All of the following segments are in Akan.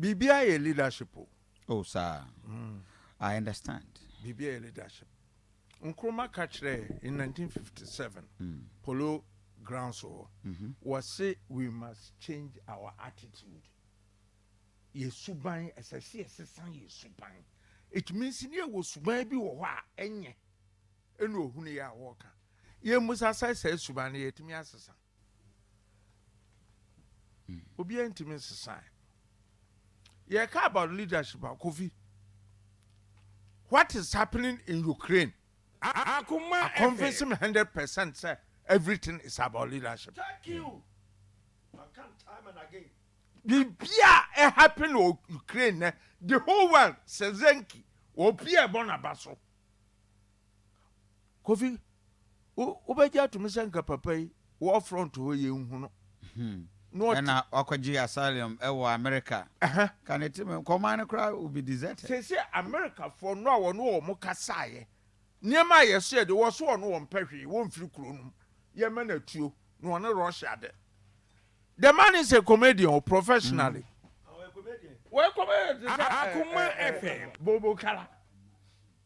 biribiara yɛ leadership o. oh saa mm. i understand. biribiara yɛ leadership nkrumah ka kyerɛɛ in 1957 mm. polo grounds hɔ mm -hmm. wɔse we must change our attitude yɛ suban ɛsɛ sɛ yɛsesa yɛ suban it means ne yɛwɔ suban bi wɔ hɔ a ɛnyɛ ɛne ohunu yɛ a wɔka yɛmmusa sɛ sɛ suban no yɛtumi asesa Obiara ntumi nsesae. Yɛka about leadership a, Kofi, what is happening in Ukraine? I convince me hundred percent sɛ everything is about leadership. Thank you. I come time and again. Bibia ɛ happen wɔ Ukraine nɛ, the whole world, Zelensky, obi a ɛbɔ n'aba so. Kofi, wo wobɛgye atom sɛ nka papa yi wɔ front hɔ yɛnhu no na ɔte. Ɛna wakɔgye asylum wɔ America. Aha. Ka ne tirim nkɔmaa no koraa will be deserted. Seesei Americafoɔ no a wɔne wɔn kasaeɛ, nneɛma a yɛsoɛ deɛ wɔse wɔn wɔmpɛ hwee, wɔmfiri kuro no mu, yɛmma no atuo na wɔne Russia de. The man is a comedian o, professionally. Ɔyɛ comedian. Ɔyɛ comedian te sɛ ɛɛ ɛɛ Bobo Kala.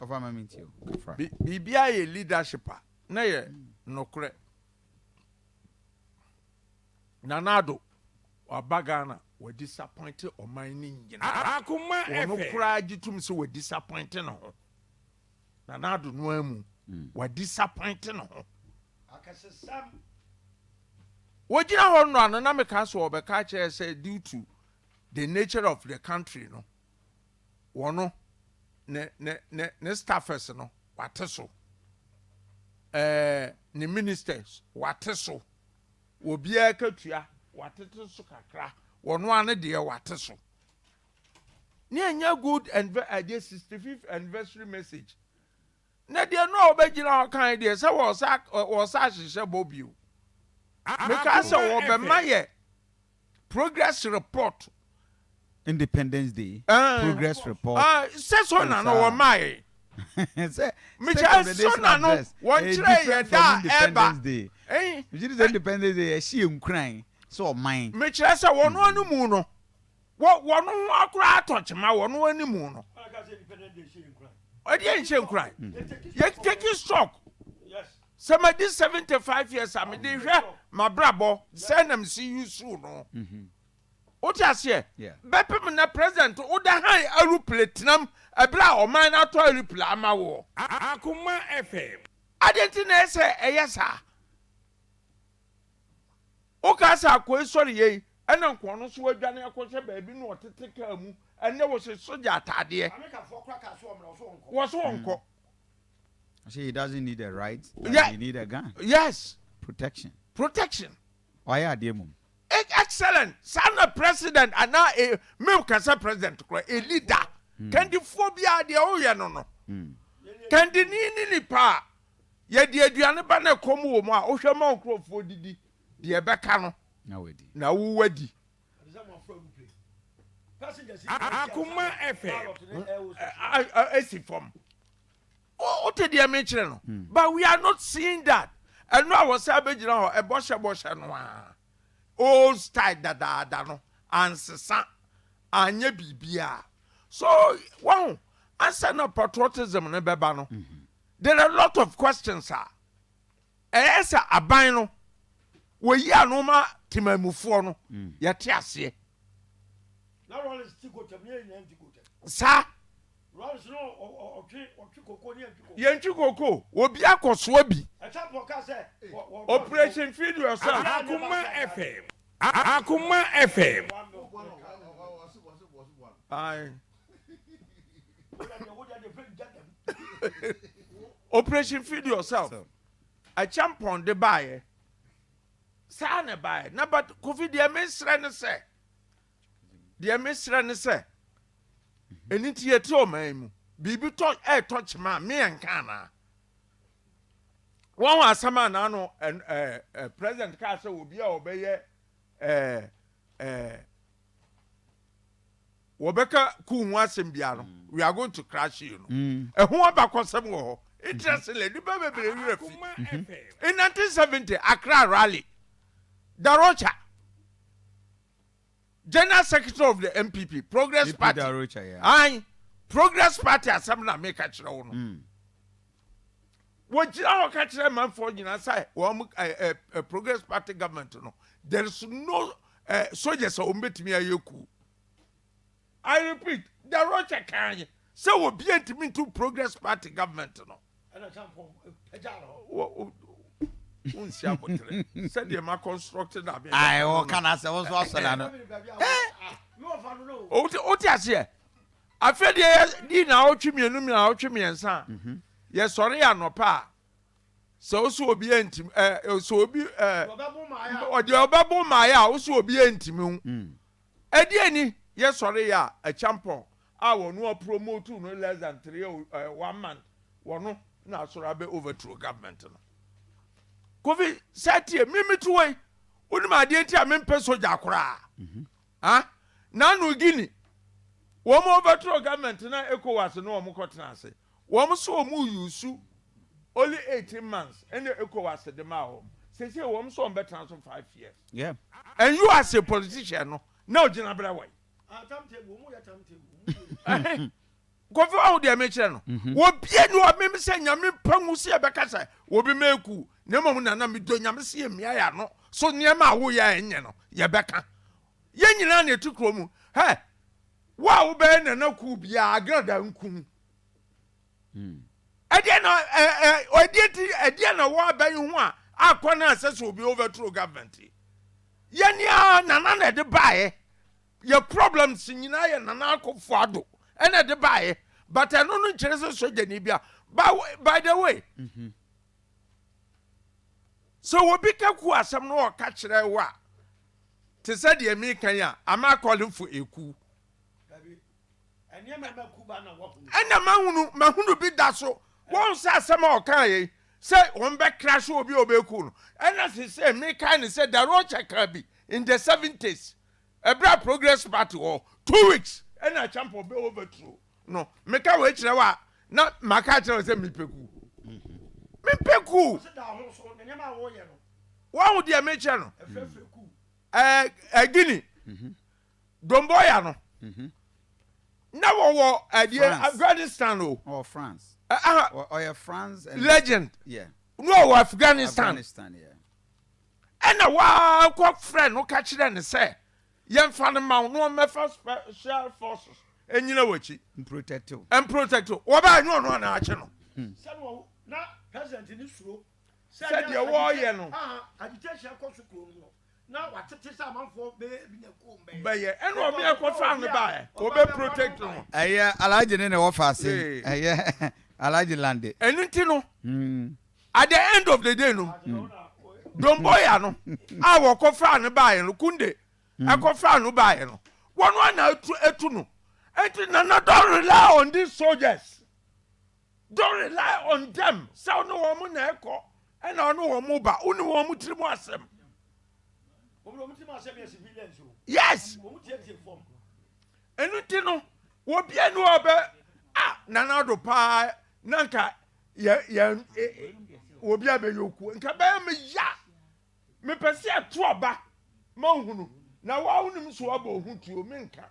Biribiara yɛ leadership a na ɛyɛ nokorɛ. Nana Addo waba Ghana wa disappoint ɔman no nyinaa. Ɔno koraa gye tom sɛ wa disappoint ne ho. Nana Addo no ara mu wa disappoint ne ho. Wɔgyina hɔ nnora no na mekaa sɛ ɔbɛka akyerɛ sɛ due to the nature of the country no wɔn no ne ne ne ne staffers no wate so ɛɛ ne ministers wate so wɔ biara katua watete so kakra wɔn ano deɛ wate so ne ɛnyɛ good and ɛdeɛ sixty fifth anniversary message Na deɛ no a wɔbɛgyina hɔ aka ne deɛ sɛ wɔresa ahyehyɛ bɔ bio. Mekaa sɛ wɔbɛma yɛ progress report. Independence Day progress report. Sɛ so na no wɔmaa yɛ. Sɛ state of the nation address ɛyɛ different from Independence Day. Mekyerɛ sɛ Independence Day yɛhyɛ yɛn nkuran sɛ ɔman. Mekyerɛ sɛ wɔn ano mu no. Wɔ wɔn ho akora atɔ kyema wɔn anim no, ɛdeɛ nhyɛ nkuran. Yɛ take stock sɛ madi seventy five years a mede hwɛ m'abrabɔ sɛ na mesi yusu no. Mm-hmm. Wote aseɛ? Bɛpem na president woda han aeroplane tenam ɛberɛ a ɔman no atɔ aeroplane ama woɔ. Akoma FM. Adɛn nti na ɛsɛ ɛyɛ saa? Wokaa sɛ akoe sɔreyɛ yi na nka ɔno nso wadwane akɔhwɛ baabi na ɔtete kaa mu, ɛnnɛ wɔhyɛ sogya ataadeɛ. Amerikafoɔ koraa kaa sɛ ɔmmra, ɔse ɔnkɔ. Wɔse ɔnkɔ. I say he doesn't need a right, but yeah. he need a gun. Yes. Protection. Protection. Wayɛ adeɛ mom. Excellent. Saa na president anaa e, mew kasa president kora, a leader. Mm. Kandifoɔ biara deɛ woyɛ no no. Mm. Kandini ne nipa a Yɛde aduane ba na ɛkɔm wɔ mu a, wohwɛ ma wo nkurɔfoɔ didi, deɛ ɛbɛka no, na wo wadi. Akoma ɛfɛ ɛsi fam. Wote deɛ mekyerɛ no? Hmm. But we are not seeing that. Ɛno a wɔsɛ abɛgyina hɔ, ɛbɔhyɛ bɔhyɛ no a. Old style dadaada no, ansesa, anyɛ biribiara. So, wɔn, ansa na patriotism no bɛba no, mm -hmm. There are lot of questions a ɛyɛ sɛ aban no wɔyi ano ma temanmufoɔ no yɛte aseɛ. Na Rawlings te gotam na yɛn nyinaa nte gotam. Saa. Rawlings no ɔtwe ɔtwe koko ne yɛntwe koko. Yɛntwe koko obi akɔsoa bi. Ɛtapɔ ka sɛ operation feed yourself. Akoma FM Akoma FM. Ae operation feed yourself akyɛmpɔn de baayɛ saa na ɛbaayɛ na but kofi deɛ mesrɛ ne sɛ deɛ mesrɛ ne sɛ ɛni nti yɛte ɔman mu biribi tɔ ɛɛtɔ kyema a meyɛ nka anaa wɔn asɛm a n'ano ɛɛ president kaa sɛ obi a ɔbɛyɛ ɛɛ ɛɛ wɔbɛka kuw ho asɛm biara no we are going to crash you no ɛho abakɔsɛm wɔ hɔ interestingly nipa bebree werɛ fi in 1970 Accra rally Darocha general secretary of the MPP Progress Party ayi Progress Party asɛm na meka kyerɛ wo no wɔgyina hɔ ka kyerɛ manfoɔ nyinaa sɛ wɔn ɛ ɛ ɛ progress party government no there is no ɛ soldiers a wɔn bɛtumi ayɛ ku i repeat the rocha kan yɛ sɛ obi ntumi ntu progress party government no wonsi abotere sɛdeɛ ma construct na bɛ ayi wɔka na sɛ wɔn nso asɔre ano wote aseɛ Afei deɛ yɛdi naawɔtwe mmienu naawɔtwe mmiɛnsa a, yɛsɔre anɔpa a, sɛ wo so obi antim ɛ sɛ obi ɛ ɔdeɛ ɔbɛbo mmaeɛ a wo so obi antimi wo. Ɛdeɛ mm. ni yɛsɔre yɛ a akyampɔn a wɔn apromote no less than three uh, one month wɔn na asɔre abɛ overthrow government no. Kofi sɛ tie mimi tuwɔ yi wonim adeɛ nti a mempɛ sogya koraa. Mm -hmm. A Na no Guinea wɔn overthrow government na Ecowas ne wɔn kɔtena ase. Wɔn nso wɔn use only eighteen months na Ecowas de maa wɔn. Seesei wɔn nso wɔn bɛtena so five years. Yeah. And u as a politician no na ogyina berɛ wai? Ah time table, wɔn yɛ time table, wɔn yɛ. Kofi wahu deɛ mekyerɛ no? Mhm. Obia ni hɔ a meme sɛ Nyame mpa ngu sɛ yɛbɛka sɛ obi ma aku na mmom Nana medɔ Nyame sɛ yɛmmia yɛn ano so nneɛma a woyɛ a ɛnyɛ no yɛbɛka. Yɛn nyinaa na yɛte kuro mu. Hɛ! Wo a wobɛyɛ Nana kuo biara Agrada nku no. Mm. Ɛdeɛ na ɛ ɛ ɛdeɛ ti ɛdeɛ na wɔ abɛn ho a akɔ na asɛ sɛ obi overthrow government yi. Yɛn ni a Nana na ɛde baeɛ. Yɛ problems nyinaa yɛ Nana Akuffo Addo na ɛde baeɛ but ɛno no nkyerɛ sɛ sogyani bia by the way sɛ obi ka ku asɛm no ɔka kyerɛ wo a te sɛ deɛ meka yi a am I calling for a coup ɛna mahunu mahunu bi da so wɔn sɛ asɛm a ɔka yɛ sɛ wɔn bɛ crash obi a ɔbɛku no ɛna sɛ sɛ meka ne sɛ darokyɛ ka bi in the seventies Ɛberɛ a Progress Party wɔ two weeks ɛna Acheampong bɛ overthrow no, meka wei kyerɛ wo a, na maka akyerɛ wo sɛ mepɛ kuu. Mempɛ kuu. Woahu deɛ mekyerɛ no? Ɛɛ Guinea, Domboya no, na wɔwɔ ɛdeɛ Afghanistan o. Ɔwɔ France. Aha. Ɔyɛ France. Legend. Yeah. No, Afghanistan. Afghanistan, yeah. Ɛnna wɔkɔfrɛɛ no ka kyerɛɛ no sɛ, Yɛmfa no mma wo na ɔmmɛfa Special Forces nnyina w'akyi mprotɛkte wo. Mprotɛkte wo. Wɔbɛyɛ ɛnyɛ ɔno anaa akye no. Sɛdeɛ ɔwɔ na President no suro sɛ deɛ wɔreyɛ no. Agitation akɔ so kuro no mu no, na wɔatete sɛ amanfoɔ bɛyɛ bi na kuo mbɛyɛ. Bɛyɛ. Ɛnna obi a ɛkɔfaa no baeɛ, ɔbɛprotɛkte no. Ɛyɛ Alhaji no na ɛwɔ faase. Ɛyɛ Alhaji Lande. Ɛno nti no, At the end of the day no, Domboya no a wɔkɔfaa no baeɛ no, Kunde ɛkɔfaa no baeɛ no, wɔn a na atu atu no. Enti Nana don't rely on these soldiers. Don't rely on them sɛ ɔne wɔn na ɛkɔ ɛna ɔne wɔn ba. Wone wɔn tiri mu asɛm. Yes. Ɛno ti no, wɔbia ne wɔbɛ a Nana Addo paa na nka yɛ yɛ obi a bɛyɛ okuo nka bɛyɛ me ya mepɛ sɛ ɛto aba ma nhunu na woawonim so abɔ ho tuo menka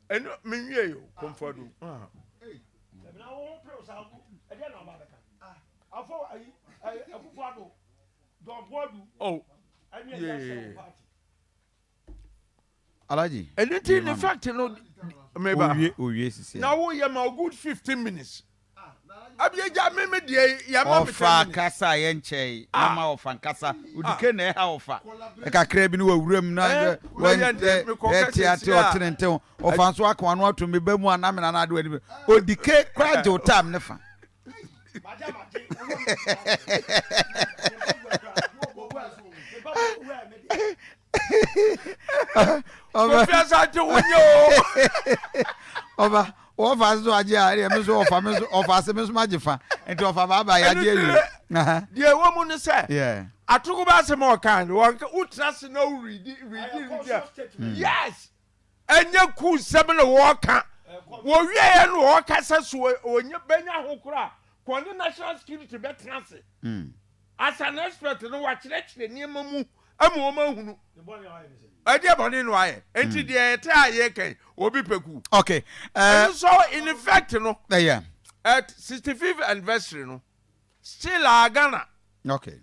ɛno menwie yo kɔmfado afɔ ayi ɛfufu ado dɔnbɔdu. ɔ yee. Alhaji. Ɛnu nti in fact no meba. Owie owie sisi. Na wo yɛ ma o good fifteen minutes. Abie gya me me deɛ yɛ ma me ten minutes. Ɔfa kasa yɛ nkyɛn na ma ɔfa nkasa odike na ɛha ɔfa. Ɛkakra bi ni wɔ wuram na yɛ yɛ te ate ɔtene ntew ɔfa nso aka wano ato me ba mu anamina na ade wɔ anim odike kora gye o time ne fa. ɔba wɔfa ase so agye a ɛdeɛ me so ɔfa me so ɔfa ase me so magye fa nti ɔfa baaba yɛ agye awie. deɛ ɛwɔ mu no sɛ atoko ba asɛm a ɔka no wotena ase na woredi redi redi yes. ɛnyɛ kuw nsɛm na wɔreka. Wɔwieeɛ no wɔreka sɛ so wɔnya bɛnya ho koro a, ka ɔne national security bɛtena ase as an expert na wakyerɛkyerɛ nneɛma mu ama wɔn ahunu ɛdeɛ bɔne na wayɛ. Nti deɛ ɛte a yɛreka yi, obi pɛ kuw. Okay. Uh, Ɛno nso in effect no, ɛyɛ. at 65th anniversary no, Still ah Ghana. Okay.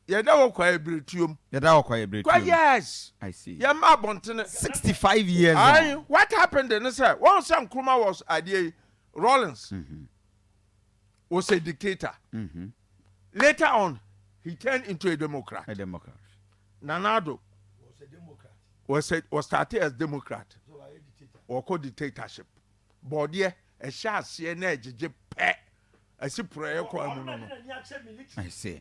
Yɛda hɔ Kwaye Biretuom. Yɛda hɔ Kwaye Biretuom. Kwa years. I see. Yɛn mma abɔntene. Sixty five years on. Ayi what happened de ne sɛ wɔn sɛ Nkrumah was adeɛ yi Rawlings was a dictator. Later on he turned into a Democrat. A Democrat. Nana Addo was a was started as Democrat. Wɔkɔ dictatorship. Borɔdeɛ, ɛhyɛ aseɛ na ɛgyegye pɛ, ɛsi porɔeɛ kwan mu no no. I see.